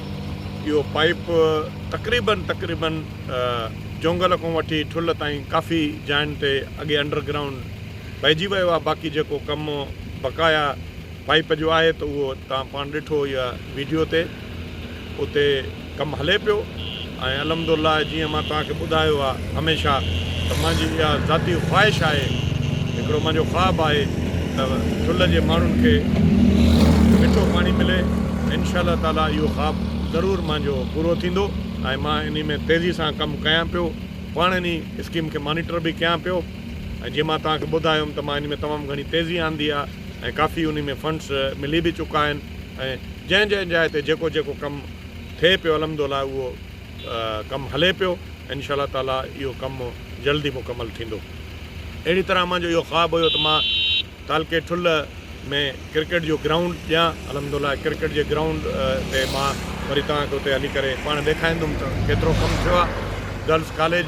اهو پائيپ تقريبن تقريبن جونگل کان وٺي ٺل تائين ڪافي جاين تي اڳي انڊر گرائونڊ پئجي ويو آهي باقي جيڪو ڪم بقايا پائيپ جو آهي ته اهو توهان پاڻ ڏٺو اها ويڊيو تي اتي ڪم هلي پيو ۽ الحمدالله جيئن مان توهان کي ٻڌايو آهي هميشه ته منهنجي اها ذاتي خواهش آهي هڪڙو منهنجو خواب آهي ته ٺل جي ماڻهن کي مٺو پاڻي ملي انشاء الله تعالي اهو خواب ضرور منهنجو پورو ٿيندو ۽ مان انهي ۾ تيزي سان ڪم ڪيان پيو پاڻ انهي اسڪيم کي مانيٽر به ڪيان پيو ۽ جيئن مان توهان کي ٻڌايو هيم ته مان انهي ۾ تمام گهڻي تيزي آندي آهي ۽ ڪافي انهي ۾ فنڊس ملي به چڪا آهن ۽ جنهن جنهن جاء تي جيڪو جيڪو ڪم ٿئي پيو الحمدالله اهو ڪم هلي پيو انشاء الله تعالي اهو ڪم جلد ئي مڪمل ٿيندو اهڙي طرح منهنجو اهو خواب هيو ته مان تعلقي ٺل ۾ ڪرڪيٽ جو گرائونڊ ڏيان الحمدالله ڪرڪيٽ جي گرائونڊ تي مان وري توهان کي اتي هلي ڪري پاڻ ڏيکاريندم ته ڪيترو ڪم ٿيو آهي گرلس ڪاليج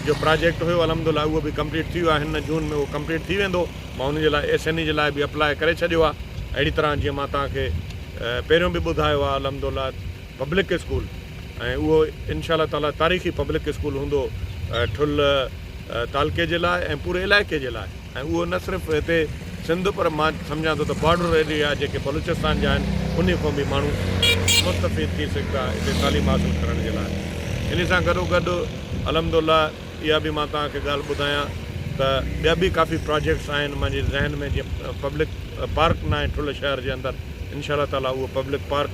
جو پراجيڪٽ هيو الحمدالله اهو به ڪمپليٽ ٿي ويو آهي هن جون ۾ اهو ڪمپليٽ ٿي ويندو مان ان جي لاء ايس اين اي جي لاء به اپلاء ڪري ڇڏيو آهي اهڙي طرح جيئن مان توهان کي پهريون به ٻڌايو آهي الحمدالله پبلڪ اسڪول ۽ اهو انشاء الله تعالي تاريخي پبلڪ اسڪول هوندو ٺل تعلقي جي لاء ۽ پوري علائقي جي لاء ۽ اهو نه صرف هتي سنڌ پر مان سمجهان ٿو ته بارڊر ايريا جيڪي بلوچستان جا آهن انهي کان به ماڻهو مستفيد ٿي سگهندا هتي تعليم حاصل ڪرڻ جي لاء انهي سان گڏو گڏ الحمدالله اها به مان توهان کي ڳالهه ٻڌايان ته ٻيا به ڪافي پراجيڪٽس آهن منهنجي ذهن ۾ جيئن پبلڪ پارڪ ناهي ٺل شهر جي اندر انشاء الله تعاليٰ اهو پبلڪ پارڪ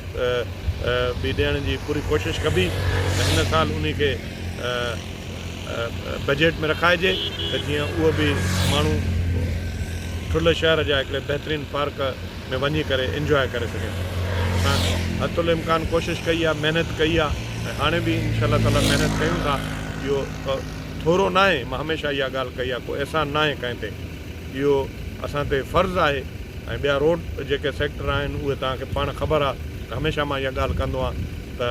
به ڏيڻ جي پوري ڪوشش ڪبي ته هن سال انهي کي بجيٽ ۾ رکائجي ته جيئن اهو به ماڻهو ٺل شهر جا هڪڙي بهترين پارڪ ۾ وڃي ڪري انجواء ڪري سگهي ٿو اسان حت الامڪان ڪوشش ڪئي آهي محنت ڪئي آهي ۽ هاڻي به انشاء الله تعالٰي محنت ڪيون ٿا اهو ٿورو ناهي مان هميشه اها ڳالهه ڪئي آهي ڪو احسان ناهي ڪنهن تي اهو اسان تي فرض آهي ۽ ٻيا روڊ جيڪي سيڪٽر آهن اهي توهان کي پاڻ خبر آهي ته هميشه مان اها ڳالهه ڪندو آهيان ته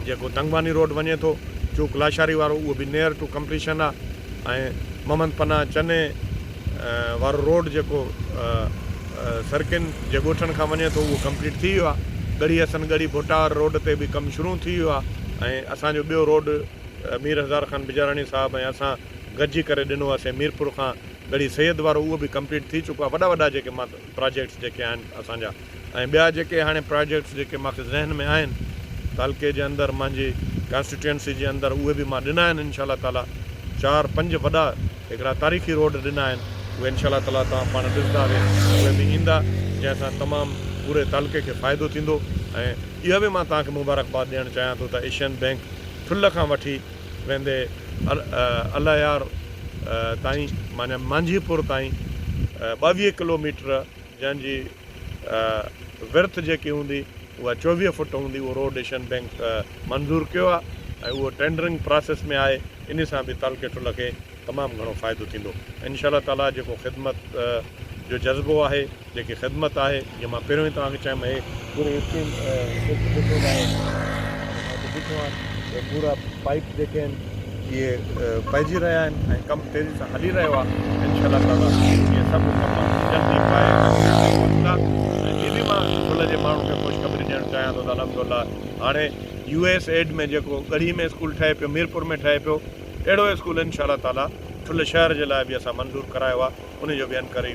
جيڪو تنگواني روڊ وڃي ٿو چوڪ لاشاري وارو اهو به نيئر ٽو ڪمپليشن آهي ۽ محمد پناهه چني وارو روڊ جيڪو سرڪين جي ڳوٺن کان وڃي ٿو اهو ڪمپليٽ ٿي ويو آهي ڳڙهي حسن ڳڙهي ڀٽا واري روڊ تي به ڪم شروع ٿي ويو آهي ۽ اسان جو ٻيو روڊ مير هزار خان بجاراڻي صاحب ۽ اسان گڏجي ڪري ڏنو هوسين ميرپور کان ڳڙهي سيد وارو اهو به ڪمپليٽ ٿي چڪو آهي وڏا وڏا جيڪي پراجيڪٽس جيڪي آهن اسان جا ۽ ٻيا جيڪي هاڻي پراجيڪٽس جيڪي مانکي ذهن ۾ آهن تعلقي جي اندر مانجي ڪانسٽيٽوئنسي جي اندر اهي به مان ڏنا آهن انشاء الله تعاليٰ چار پنج وڏا هڪڙا تاريخي روڊ ڏنا آهن اهي انشاء الله تعاليٰ توهان پاڻ ڏسندا اهي اهي به ايندا جنهن سان تمام پوري تعلقي کي فائدو ٿيندو ۽ اها به مان توهان کي مبارڪباد ڏيڻ چاهيان ٿو ته ايشين بينڪ ٺل کان وٺي ويندي الايار تائين معني مانجهي پور تائين ٻاويهه ڪلو ميٽر جنهن جي ورٿ جيڪي هوندي اها چوويهه فٽ هوندي اهو روڊ ايشين بينڪ منظور ڪيو آهي ۽ اهو ٽينڊرنگ پراسيس ۾ آهي ان سان به تعلقي ٺل کي تمام گهڻو فائدو ٿيندو انشاء الله تعالي جيڪو خدمت جو جذبو آهي جيڪي خدمت آهي جي مان پهريون ئي توهان کي چيم هي پوري اسٽيم سوچي ڏٺو ناهي ۽ مان ته ڏٺو آهن ته پورا پائيپ جيڪي آهن اهي پائجي رهيا آهن ۽ ڪم تيزي سان هلي رهيو آهي ان شاء الله تعالي اهي سڀ ڪم جلدي پائي پوندا ۽ هي به مان ڀل جي ماڻهن کي خوشخبري ڏيڻ چاهيان ٿو ته الحمد الله هاڻي يو ايس ايڊ ۾ جيڪو ڳڙهي ۾ اسڪول ٺهي پيو ميرپور ۾ ٺهي پيو اهڙو اسڪول ان شاء الله تعالي ٺل شهر جي لاء به اسان منظور ڪرايو آهي ان جو به انڪري